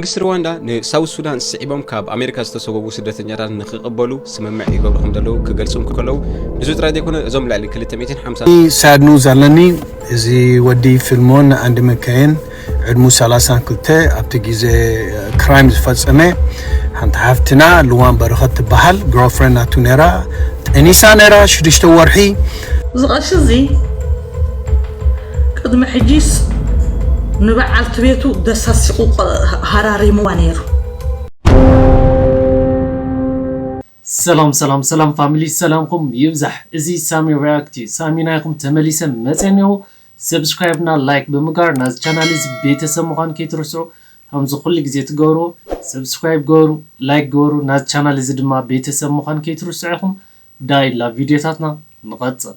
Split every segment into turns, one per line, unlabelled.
መንግስቲ ሩዋንዳ ንሳውት ሱዳን ስዒቦም ካብ ኣሜሪካ ዝተሰጎጉ ስደተኛታት ንክቕበሉ ስምምዕ ይገብሩ ከም ዘለዉ ክገልጹ እንከለዉ ንሱ ጥራይ ዘይኮነ እዞም ልዕሊ 250 ሳድ ኒውዝ ኣለኒ
እዚ ወዲ ፊልሞን ኣንድ መካየን ዕድሙ 32 ኣብቲ ግዜ ክራይም ዝፈጸመ ሓንቲ ሓፍትና ልዋን በረኸት ትበሃል ግሮፍረንድ ናቱ ነራ ጠኒሳ ነራ ሽዱሽተ ወርሒ እዚ ቐሺ እዚ
ቅድሚ ሕጂስ ንበዓልቲ ቤቱ ደሳሲቑ ሃራሪምዋ ነይሩ።
ሰላም ሰላም ሰላም ፋሚሊ ሰላምኩም ይብዛሕ እዚ ሳሚ ሪያክት እዩ ሳሚ ናይኩም ተመሊሰ መፀ እኒኦ ሰብስክራይብ እና ላይክ ብምጋር ናዚ ቻናል እዚ ቤተሰብ ምኳን ከይትርስዑ ከምዚ ኩሉ ግዜ ትገብርዎ ሰብስክራይብ ገበሩ ላይክ ገበሩ ናዚ ቻናል እዚ ድማ ቤተሰብ ምኳን ከይትርስዑ ኢኩም ዳይ ላ ቪዲዮታትና ንቀፅል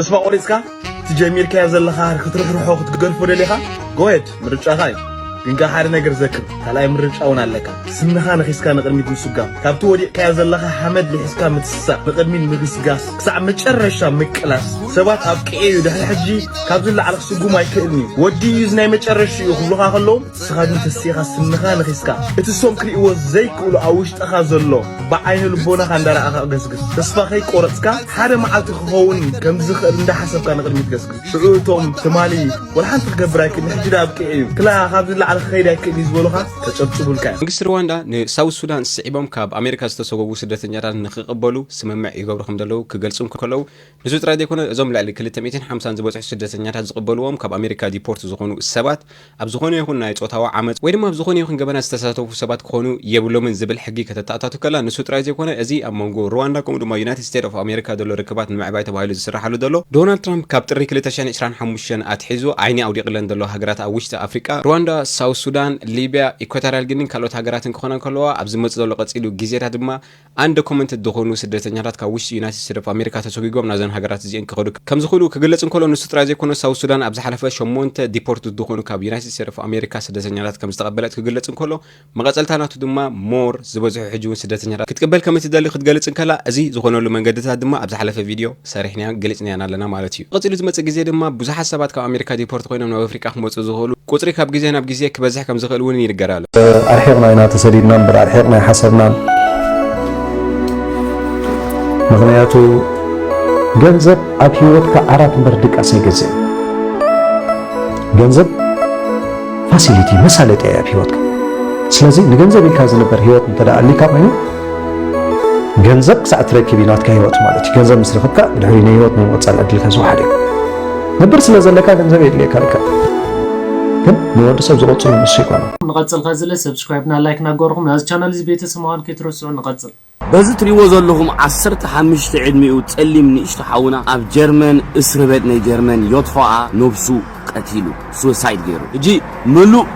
ተስፋ ቆሪጽካ
እቲ ጀሚርካዮ ዘለኻ ክትርሕርሖ ክትገድፎ ደሊኻ go ahead ምርጫኻ እዩ ግን ከኣ ሓደ ነገር ዘክር ካልኣይ ምርጫ እውን ኣለካ ስንኻ ነኺስካ ንቕድሚት ምስጓም ካብቲ ወዲቕካዮ ዘለኻ ሓመድ ልሒስካ ምትስሳእ ንቕድሚት ምግስጋስ ክሳዕ መጨረሻ ምቅላስ ሰባት ኣብቂዐ እዩ ድሕሪ ሕጂ ካብዚ ንላዕሊ ክስጉም ኣይክእልን እዩ ወዲኡ እዚ ናይ መጨረሽኡ እዩ ክብሉኻ ከለዉ ንስኻ ግን ተሲእኻ ስንኻ ነኺስካ እቲ ሰም ክርእይዎ ዘይክእሉ ኣብ ውሽጥኻ ዘሎ ብዓይነ ልቦናኻ እንዳረኣኻ ገስግስ ተስፋ ከይቆረጽካ ሓደ መዓልቲ ክኸውን ከም ዝኽእል እንዳሓሰብካ ንቕድሚት ገስግስ ሽዑ እቶም ትማሊ ወላ ሓንቲ ክገብር ኣይክእልን ሕጂ ድኣ ኣብቂዑ እዩ ክላ ካብዚ ንላዕሊ ክኸይድ ኣይክእልን እዩ ዝበሉኻ ከጨብጭቡልካ እዮም። መንግስቲ ርዋንዳ ንሳውዝ
ሱዳን ስዒቦም ካብ ኣሜሪካ ዝተሰጎጉ ስደተኛታት ንኽቕበሉ ስምምዕ ይገብሩ ከምዘለዉ ክገልጹ እንከለዉ፣ ንሱ ጥራይ ዘይኮነ እዞም ልዕሊ ክልተ ሚእትን ሓምሳን ዝበጽሑ ስደተኛታት ዝቕበልዎም ካብ ኣሜሪካ ዲፖርት ዝኾኑ ሰባት ኣብ ዝኾነ ይኹን ናይ ጾታዊ ዓመጽ ወይ ድማ ኣብ ዝኾነ ይኹን ገበናት ዝተሳተፉ ሰባት ክኾኑ የብሎምን ዝብል ሕጊ ከተተኣታቱ ከላ ንሱ ጥራይ ዘይኮነ እዚ ኣብ መንጎ ሩዋንዳ ከምኡ ድማ ዩናይትድ ስቴት ኦፍ ኣሜሪካ ዘሎ ርክባት ንምዕባይ ተባሂሉ ዝስራሓሉ ዘሎ ዶናልድ ትራምፕ ካብ ጥሪ ክልተ ሽሕን ዕስራን ሓሙሽተን ኣትሒዙ ዓይኒ ኣውዲቕለን ዘሎ ሃገራት ኣብ ውሽጢ ኣፍሪቃ ሩዋንዳ ሳውዝ ሱዳን ሊብያ ኢኳታርያል ጊኒን ካልኦት ሃገራትን ክኾና እንከለዋ ኣብ ዝመጽእ ዘሎ ቀጺሉ ግዜታት ድማ ኣንደኩመንትድ ዝኾኑ ስደተኛታት ካብ ውሽጢ ዩናይትድ ስቴትስ ኦፍ ኣሜሪካ ተሰጉጎም ናብዘን ሃገራት እዚኤን ክኸዱ ከምዝኽእሉ ክግለጽ እንከሎ ንሱ ጥራይ ዘይኮነስ ሳውዝ ሱዳን ኣብ ዝሓለፈ ሸሞንተ ዲፖርትድ ዝኾኑ ካብ ዩናይትድ ስቴትስ ኦፍ ኣሜሪካ ስደተኛታት ከምዝተቐበለት ክግለጽ እንከሎ መቐጸልታ ናቱ ድማ ሞር ዝበዝሑ ሕጂውን ስደተኛታት ክትቅበል ከምእትደሊ ክትገልጽ እንከላ እዚ ዝኾነሉ መንገድታት ድማ ኣብ ዝሓለፈ ቪድዮ ሰሪሕናያ ገሊጽናያን ኣለና ማለት እዩ። ቀጺሉ ዝመጽእ ግዜ ድማ ብዙሓት ሰባት ካብ ኣሜሪካ ዲፖርት ኮይኖም ናብ ኣፍሪቃ ክመጹ ዝኽእሉ ቁጽሪ ካብ ግዜ ናብ ግዜ ክበዝሕ ከም ዝኽእል እውን ይንገር ኣሎ። ኣርሒቕና ኢና
ተሰዲድና እምበር ኣርሒቕና ኣይሓሰብናን። ምኽንያቱ ገንዘብ ኣብ ህይወትካ ዓራት እምበር ድቃስ ኣይገዝእን። ገንዘብ ፋሲሊቲ መሳለጥያ እያ ኣብ ህይወትካ። ስለዚ ንገንዘብ ኢልካ ዝንበር ህይወት እንተደኣ ኣሊካ ኮይኑ ገንዘብ ክሳዕ እትረክብ እዩ ናትካ ህይወት ማለት እዩ። ገንዘብ ምስ ረኽብካ ብድሕሪ ናይ ህይወት ናይ ምቕፃል ዕድልካ ዝወሓደ እዩ። ነብር ስለ ዘለካ ገንዘብ የድልየካ ልካ ግን ንወዲ ሰብ ዝቐፅሉ ንሱ ይኮነ። ንቐፅል ከዚ ለ
ሰብስክራይብ ና ላይክ ናገበርኹም ናዚ ቻናል እዚ ቤተሰብ ምዃን ከይትረስዑ ንቐፅል። በዚ እትሪእዎ
ዘለኹም ዓሰርተ ሓምሽተ ዕድሚኡ ጸሊም ንእሽቶ ሓውና ኣብ ጀርመን እስርቤት ናይ ጀርመን ዮትፋኣ ነብሱ ቀቲሉ Suicide ጌሩ ሕጂ ምሉእ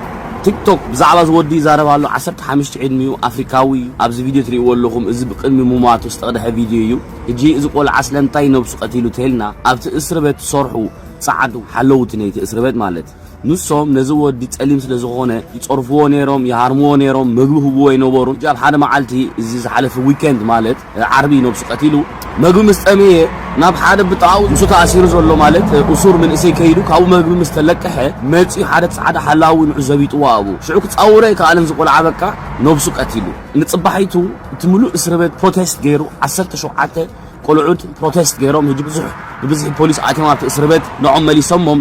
ቲክቶክ ብዛዕባ እዚ ወዲ ይዛረብ ኣሎ ዓሰርተ ሓምሽተ ዕድሚኡ ኣፍሪካዊ እዩ ኣብዚ ቪድዮ ትሪእዎ ኣለኹም እዚ ብቅድሚ ሙማቱ ዝተቅደሐ ቪድዮ እዩ ሕጂ እዚ ቆልዓ ስለምንታይ ነብሱ ቀቲሉ ተልና ኣብቲ እስርበት ትሰርሑ ጻዓዱ ሓለውቲ ነይቲ እስርበት ማለት ንሶም ነዚ ወዲ ጸሊም ስለ ዝኾነ ይጸርፍዎ ኔሮም ይሃርምዎ ኔሮም መግቢ ክህብዎ ኣይነበሩን ሕጂ ኣብ ሓደ ማዓልቲ እዚ ዝሓለፈ ዊከንድ ማለት ዓርቢ ነብሱ ቀቲሉ መግቢ ምስ ጠመየ ናብ ሓደ ብጥቓኡ ምስኡ ተኣሲሩ ዘሎ ማለት እሱር ምንእሰይ ከይዱ ካብኡ መግቢ ምስ ተለቀሐ መጺኡ ሓደ ጻዕዳ ሓላዊ ንዑ ዘቢጥዎ ኣብኡ ሽዑ ክጻወሮ ኣይከኣለን እዚ ቆልዓ በቃ ነብሱ ቀቲሉ። ንጽባሒቱ እቲ ምሉእ እስርቤት ፕሮቴስት ገይሩ ዓሰርተ ሸውዓተ ቆልዑት ፕሮቴስት ገይሮም ህጂ ብዙሕ ብብዝሒ ፖሊስ ኣትዮም ኣብቲ እስርቤት ንዖም መሊሶሞም።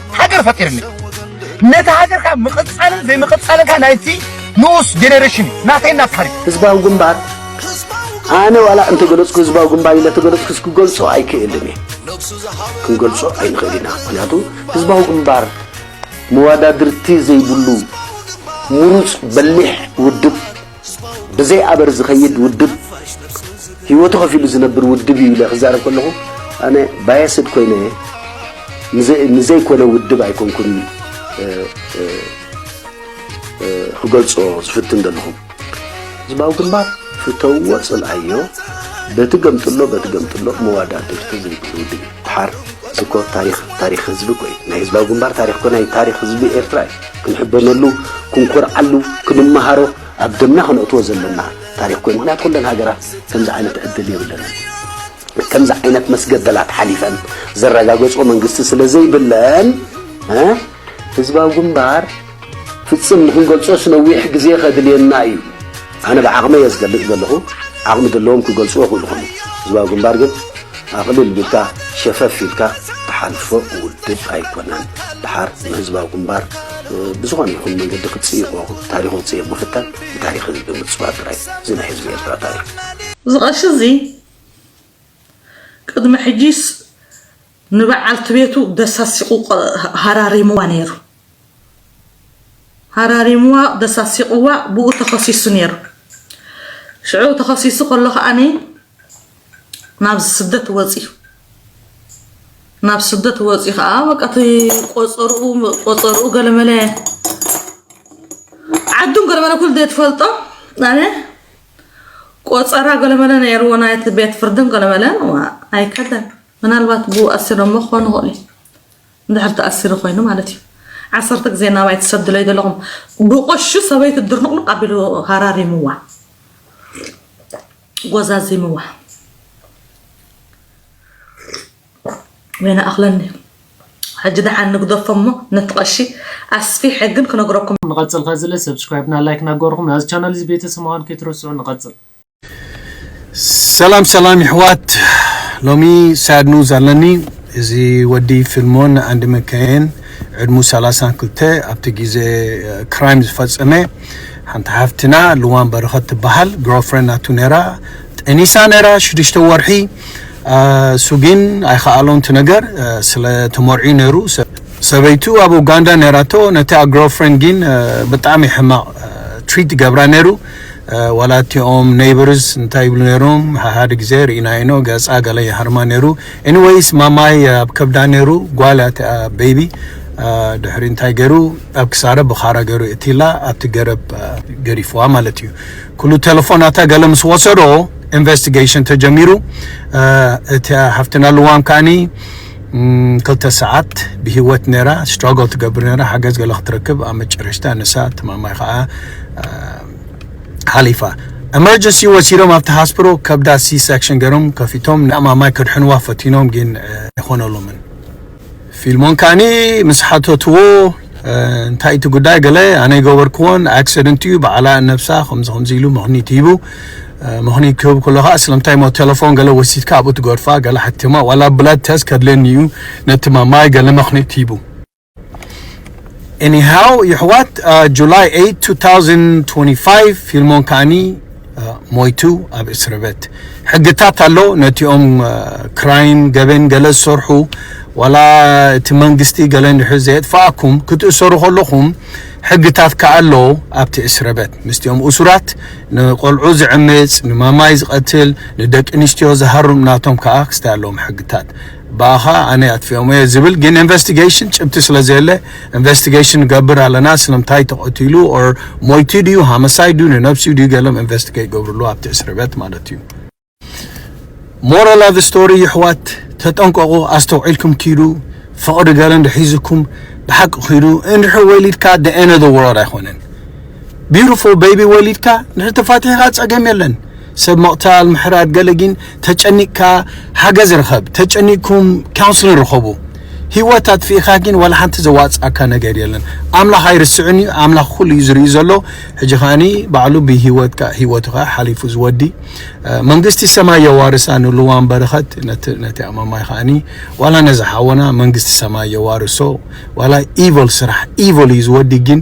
ሃገር ፈጢርኒ ነቲ ሃገር ካብ ምቕጻልን ዘይምቕጻልን ካብ ናይቲ ንኡስ ጀኔሬሽን ናተይ ናትካ ህዝባዊ ግንባር
ኣነ ዋላ እንተገለፅኩ ህዝባዊ ግንባር ኢለ ተገለፅኩስ ክገልፆ ኣይክእልን እየ ክንገልፆ ኣይንኽእል ኢና ምክንያቱ ህዝባዊ ግንባር መዋዳድርቲ ዘይብሉ ምሩፅ በሊሕ ውድብ ብዘይ ኣበር ዝኸይድ ውድብ ህይወቱ ከፊሉ ዝነብር ውድብ እዩ ኢለ ክዛረብ ከለኹ ኣነ ባየስድ ኮይነ ንዘይኮነ ውድብ ኣይኮንኩን ክገልጾ ዝፍትን ዘለኹ ህዝባዊ ግንባር ፍተውዎ ጽልኣዮ በቲ ገምጥሎ በቲ ገምጥሎ መዋዳእቲ ፍተ ዘይብሉ ውድብ እዩ ድሓር እኮ ታሪክ ታሪክ ህዝቢ እኮ እዩ ናይ ህዝባዊ ግንባር ታሪክ እኮ ናይ ታሪክ ህዝቢ ኤርትራ እዩ ክንሕበነሉ፣ ክንኮርዓሉ፣ ክንመሃሮ፣ ኣብ ደምና ከነእትዎ ዘለና ታሪኽ ኮይኑ ምክንያት ኩለን ሃገራት ከምዚ ዓይነት ዕድል የብለንን። ከምዚ ዓይነት መስገደላት ሓሊፈን ዘረጋገጾ መንግስቲ ስለ ዘይብለን ህዝባዊ ግንባር ፍጽም ንክንገልጾስ ነዊሕ ግዜ ከድልየና እዩ። ኣነ ብዓቕመይ እየ ዝገልጽ ዘለኹ፣ ዓቕሚ ዘለዎም ክገልጹ ይኽእሉ ይኾኑ፣ ህዝባዊ ግንባር ግን ኣቕልል ቢልካ ሸፈፍ ኢልካ ትሓልፎ ውድብ ኣይኮነን፣ ድሓር ንህዝባዊ ግንባር ብዝኾነ ይኹን መንገዲ ክትጽይቆ ታሪኹ ክትጽይቕ ምፍታን ብታሪኽ ህዝቢ ምጽዋር ጥራይ እዚ ናይ ህዝቢ ኤርትራ ታሪኽ እዚ ቀሺ እዚ
ቅድሚ ሕጂስ ንበዓልቲ ቤቱ ደሳሲቑ ሃራሪሙዋ ነይሩ። ሃራሪሙዋ ደሳሲቑዋ ብኡ ተኸሲሱ ነይሩ። ሽዑ ተኸሲሱ ከሎ ከኣኒ ናብ ስደት ወፅዩ ናብ ስደት ወፂ ከዓ በቃ እቲ ቆፀርኡ ቆፀርኡ ገለመለ ዓዱን ገለመለ ኩሉ ዘይትፈልጦ ኣነ ቆፀራ ገለመለ ነይርዎ ናይቲ ቤት ፍርድን ገለመለን ኣይከደን ምናልባት ብኡ ኣሲሮሞ ክኾኑ ይኽእሉ እዩ እንድሕር ተኣሲሩ ኮይኑ ማለት እዩ ዓሰርተ ግዜ ናባይ ትሰድለይ ዘለኹም ብቆሹ ሰበይቲ ድርንቕንቕ ኣቢሉ ሃራሪምዋ ጎዛዚምዋ ወይነ ኣኽለኒ ሕጂ ደሓን ንግደፎ እሞ ነቲ ቀሺ ኣስፊሐ ግን ክነግረኩም ንቐጽል ከዝለ
ሰብስክራይብና ላይክ ናገርኹም ናዚ ቻናል እዚ ቤተሰማዋን ከይትረስዑ ንቐጽል ሰላም
ሰላም ይሕዋት ሎሚ ሳድ ኑዝ ኣለኒ እዚ ወዲ ፊልሞን ኣንድ መከየን ዕድሙ ሰላሳን ክልተ ኣብቲ ግዜ ክራይም ዝፈጸመ ሓንቲ ሓፍትና ልዋም በረኸት ትበሃል ግርልፍሬንድ ናቱ ነይራ ጠኒሳ ነይራ ሽዱሽተ ወርሒ እሱ ግን ኣይከኣሎን እቲ ነገር ስለ ተመርዕዩ ነይሩ ሰበይቱ ኣብ ኡጋንዳ ነይራቶ ነታ ግርልፍሬንድ ግን ብጣዕሚ ሕማቕ ትሪት ይገብራ ነይሩ ዋላ እቲኦም ነይበርስ እንታይ ይብሉ ነይሮም ሓሓደ ግዜ ርኢናዮ ኢና ገጻ ገለ ይሃርማ ነይሩ ኤኒወይስ ማማይ ኣብ ከብዳ ነይሩ ጓል እያ እቲኣ ቤቢ ድሕሪ እንታይ ገይሩ ኣብ ክሳረ ብኻራ ገይሩ የእትይላ ኣብቲ ገረብ ገሪፍዋ ማለት እዩ ኩሉ ቴሌፎናታ ገለ ምስ ወሰዶ ኢንቨስቲጌሽን ተጀሚሩ እቲኣ ሓፍትና ልዋም ከዓኒ ን ክልተ ሰዓት ብሂወት ነራ ስትራጎል ትገብር ነራ ሓገዝ ገለ ክትረክብ ኣብ መጨረሽታ ንሳ ትማማይ ከኣ ሓሊፋ ኤመርጀንሲ ወሲዶም ኣብቲ ሃስፕሮ ከብዳ ሲ ሰክሽን ገሮም ከፊቶም ንማማይ ከድሕንዋ ፈቲኖም ግን ኣይኾነሎምን ፊልሞን ከኣኒ ምስ ሓተትዎ እንታይ እቲ ጉዳይ ገለ ኣነ ገበርክዎን ኣክሲደንት እዩ በዓላ ነብሳ ከምዚ ከምዚ ኢሉ ምኽኒት ሂቡ ምኽኒት ክህብ ከሎ ከዓ ስለምንታይ ሞ ቴሌፎን ገለ ወሲድካ ኣብኡ ትገርፋ ገለ ሓኪማ ዋላ ብላድ ተስት ከድልየኒ እዩ ነቲ ማማይ ገለ ምኽኒት ሂቡ ኤኒሃው ይሕዋት ጁላይ 8 2025 ፊልሞን ከዓኒ ሞይቱ ኣብ እስርበት ሕግታት ኣሎ ነቲኦም ክራይም ገበን ገለ ዝሰርሑ ዋላ እቲ መንግስቲ ገለ እንድሕር ዘየጥፋኣኩም ክትእሰሩ ከለኹም ሕግታት ከኣ ኣሎ ኣብቲ እስርበት ምስቲኦም እሱራት ንቆልዑ ዝዕምጽ ንማማይ ዝቐትል ንደቂ ኣንስትዮ ዝሃርም ናቶም ከኣ ክስታይ ኣለዎም ሕግታት ብኣኻ ኣነ ኣጥፊኦም እየ ዝብል ግን ኢንቨስቲጌሽን ጭብቲ ስለ ዘየለ ኢንቨስቲጌሽን ንገብር ኣለና ስለምታይ ተቐቲሉ ኦር ሞይቱ ድዩ ሃመሳይ ድዩ ንነብሲኡ ድዩ ገሎም ኢንቨስቲጌ ይገብርሉ ኣብቲ እስርበት ማለት እዩ ሞራል ኦፍ ስቶሪ ይሕዋት ተጠንቀቑ ኣስተውዒልኩም ኪዱ ፍቕሪ ገለ እንድሒዝኩም ብሓቂ ኪዱ እንድሕር ወሊድካ the end of the world ኣይኮነን ቢሩፎ በይቢ ወሊድካ ንድሕር ተፋቲሕኻ ጸገም የለን ሰብ ምቕታል ምሕራድ ገለ ግን ተጨኒቅካ ሓገዝ ርኸብ ተጨኒቅኩም ካውንስልን ርኸቡ ሂወት ኣጥፊእኻ ግን ዋላ ሓንቲ ዘዋጽኣካ ነገር የለን ኣምላኽ ኣይርስዕን እዩ ኣምላኽ ኩሉ እዩ ዝርኢ ዘሎ ሕጂ ከዓኒ ባዕሉ ብሂወትካ ሂወቱ ከዓ ሓሊፉ ዝወዲ መንግስቲ ሰማይ የዋርሳ ንልዋም በረኸት ነቲ ኣማማይ ከዓኒ ዋላ ነዚ ሓወና መንግስቲ ሰማይ የዋርሶ ዋላ ኢቮል ስራሕ ኢቮል እዩ ዝወዲ ግን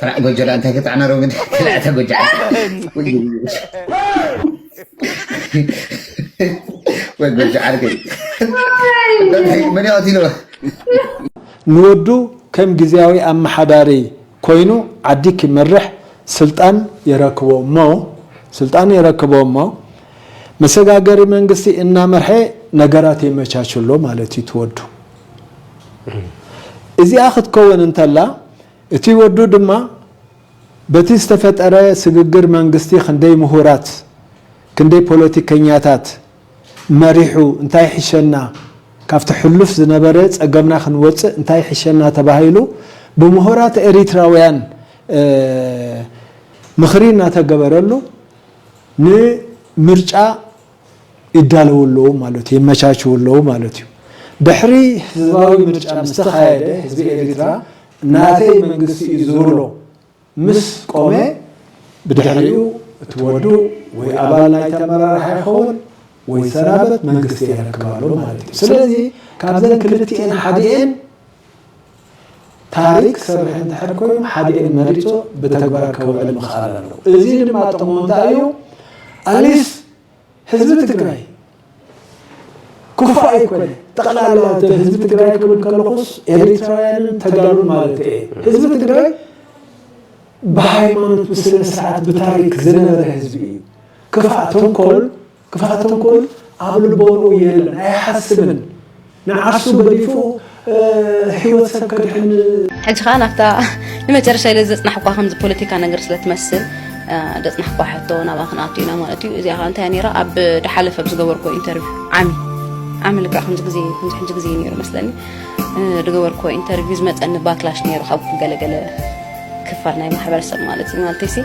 ተላዕ ጎጆ ደኣ እንታይ ከተዕናሮ ግን ተላዕታ ጎጆ ወይ ጎጆ ዓርከይ መን ይቐትልዎ
ንወዱ ከም ግዝያዊ ኣመሓዳሪ ኮይኑ ዓዲ ክመርሕ ስልጣን የረክቦ እሞ ስልጣን የረክቦ እሞ መሰጋገሪ መንግስቲ እናመርሐ ነገራት የመቻችሎ ማለት እዩ ትወዱ እዚኣ ክትከውን እንተላ እቲ ወዱ ድማ በቲ ዝተፈጠረ ስግግር መንግስቲ ክንደይ ምሁራት ክንደይ ፖለቲከኛታት መሪሑ እንታይ ይሕሸና ካብቲ ሕሉፍ ዝነበረ ፀገምና ክንወፅእ እንታይ ይሕሸና ተባሂሉ ብምሁራት ኤሪትራውያን ምኽሪ እናተገበረሉ ንምርጫ ይዳለዉ ኣለዉ ማለት እዩ፣ የመቻችዉ ኣለዉ ማለት እዩ። ድሕሪ ህዝባዊ ምርጫ ምስ ተኻየደ ህዝቢ ኤሪትራ ናተይ መንግስቲ እዩ ዝብሎ ምስ ቆመ ብድሕሪኡ እቲ ወዱ ወይ ኣባል ናይቲ ኣመራርሓ ይኸውን ወይ ይሰናበት መንግስቲ የረክብ ኣሎ ማለት እዩ። ስለዚ ካብዘን ክልቲኤን ሓዲኤን ታሪክ ክሰርሕ እንድሕር ኮይኑ ሓዲኤን መሪጹ ብተግባር ከውዕል ምኽኣል ኣለዎ። እዚ ድማ ጥቕሙ እንታይ እዩ? ኣሊስ ህዝቢ ትግራይ ክፉእ ኣይኮነ ጠቕላላ ህዝቢ ትግራይ ክብል ከለኹስ ኤሪትራውያንን ተጋሩን ማለት እየ። ህዝቢ ትግራይ ብሃይማኖት ብስነ ስርዓት ብታሪክ ዝነበረ ህዝቢ እዩ። ክፋእ ተንኮል ክፍኣት ተንኮል ኣብ ልቦንኡ የለን ኣይሓስብን ንዓርሱ ገዲፉ ህይወት ሰብ ከድሕን ሕጂ ከዓ ናብታ
ንመጨረሻ ኢለ ዘፅናሕኳ ከምዚ ፖለቲካ ነገር ስለ ትመስል ዘፅናሕኳ ሕቶ ናብኣ ክንኣቱ ኢና ማለት እዩ እዚኣ ከዓ እንታይ ነይራ ኣብ ድሓለፈ ኣብ ዝገበርኮ ኢንተርቪው ዓሚ ዓሚ ልክዕ ከምዚ ግዜ ከምዚ ሕጂ ግዜ ነይሩ መስለኒ ዝገበርኮ ኢንተርቪው ዝመፀኒ ባክላሽ ነይሩ ካብ ገለገለ ክፋል ናይ ማሕበረሰብ ማለት እዩ ማለተይሲ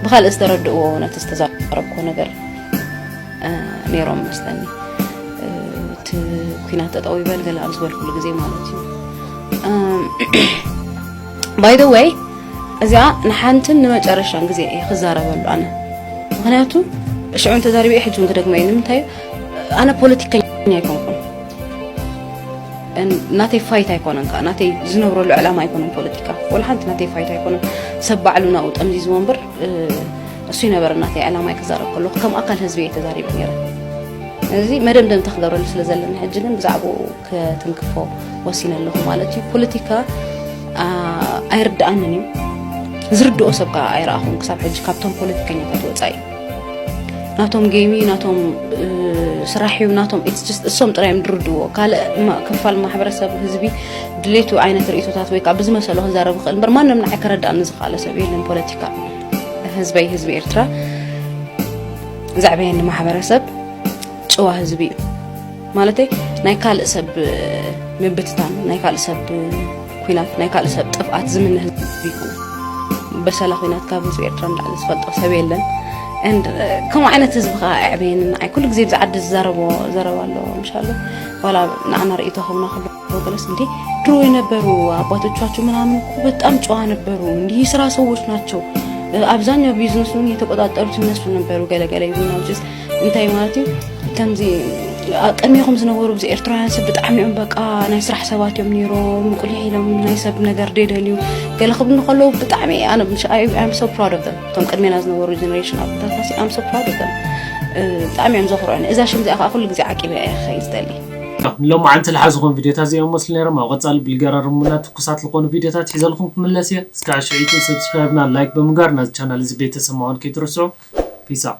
ብካልእ ዝተረድእዎ ነቲ ዝተዛረብኮ ነገር ነይሮም መስለኒ እቲ ኩናት ጠጠው ይበል ገለ ኣብ ዝበልኩሉ ግዜ ማለት እዩ ባይ ዘ ወይ እዚኣ ንሓንትን ንመጨረሻን ግዜ እየ ክዛረበሉ ኣነ ምክንያቱ ሽዑ እንተዛሪበ እየ ሕጂ እውን ክደግመ እዩ ንምንታይ ኣነ ፖለቲከኛ ኣይኮንኩን ናተይ ፋይት ኣይኮነን ከዓ ናተይ ዝነብረሉ ዕላማ ኣይኮነን ፖለቲካ ወላ ሓንቲ ናተይ ፋይት ኣይኮነን ሰብ ባዕሉ ናብኡ ጠምዚዝዎ እምበር እሱ ይነበረ ናተይ ዕላማይ ክዛረብ ከለኹ ከም ኣካል ህዝቢ እየ ተዛሪበ ነይረ እዚ መደምደምታ ክገብረሉ ስለ ዘለና ሕጂ ግን ብዛዕባኡ ከትንክፎ ወሲነ ኣለኹ ማለት እዩ ፖለቲካ ኣይርድኣንን እዩ ዝርድኦ ሰብ ከዓ ኣይረኣኹም ክሳብ ሕጂ ካብቶም ፖለቲከኛታት ወፃኢ ናቶም ገይሚ ናቶም ስራሕ እዩ ናቶም እሶም ጥራይ እዮም ዝርድዎ ካልእ ክፋል ማሕበረሰብ ህዝቢ ድሌቱ ዓይነት ርእቶታት ወይ ከዓ ብዝመሰሎ ክዛረብ ይኽእል እምበር ማንም ንዓይ ከረዳእኒ ዝኽኣለ ሰብ የለን ፖለቲካ ህዝበይ ህዝቢ ኤርትራ ዘዕበየኒ ማሕበረሰብ ጭዋ ህዝቢ እዩ ማለተይ ናይ ካልእ ሰብ ምብትታን ናይ ካልእ ሰብ ኩናት ናይ ካልእ ሰብ ጥፍኣት ዝምነ ህዝቢ ይኹን በሰላ ኩናት ካብ ህዝቢ ኤርትራ ንላዕሊ ዝፈልጦ ሰብ የለን ከምኡ ዓይነት ህዝቢ ከዓ ኣዕበየኒ ንዓይ ኩሉ ግዜ ብዛዓዲ ዝዛረቦ ዘረባ ኣሎ ምሻሎ ዋላ ንዓና ርእይቶ ከምና ክብ ወገለስ እንዴ ድሮ የነበሩ አባቶቻቸው ምናምን እኮ በጣም ጨዋ ነበሩ። እንዲህ የስራ ሰዎች ናቸው። አብዛኛው ቢዝነሱን የተቆጣጠሩት እነሱ ነበሩ። ገለገለ ይሁን አውጭስ እንታይ ማለት እዩ ከምዚ ቅድሚኹም ዝነበሩ ብዚ ኤርትራውያን ሰብ ብጣዕሚ እዮም በቃ ናይ ስራሕ ሰባት እዮም ነይሮም ቁልሕ ኢሎም ናይ ሰብ ነገር ደደልዩ ገለ ክብሉ ከለዉ ብጣዕሚ ኣነ ኣም ሶ ፕራድ ኦፍ እቶም ቅድሜና ዝነበሩ ጀነሬሽን ኣቦታትና ኣም ሶ ፕራድ ኦፍ ብጣዕሚ እዮም ዘኽርዑኒ እዛ ሽም እዚኣ ከዓ ኩሉ ግዜ ዓቂበ እየ ክኸይድ ዝደሊ ሎማዓንቲ
ልሓዝኹም ቪድዮታት ዚኦም መስሉ ነይሮም ኣብ ቐፃሊ ብልገራርሙና ትኩሳት ልኾኑ ቪድዮታት ሒዘልኹም ክምለስ እየ እስካዕ ሽዕቱ subscribe እና like ብምግባር ናዚ ቻናል እዚ ቤተሰብ ምዃን ከይትርስዑ peace out።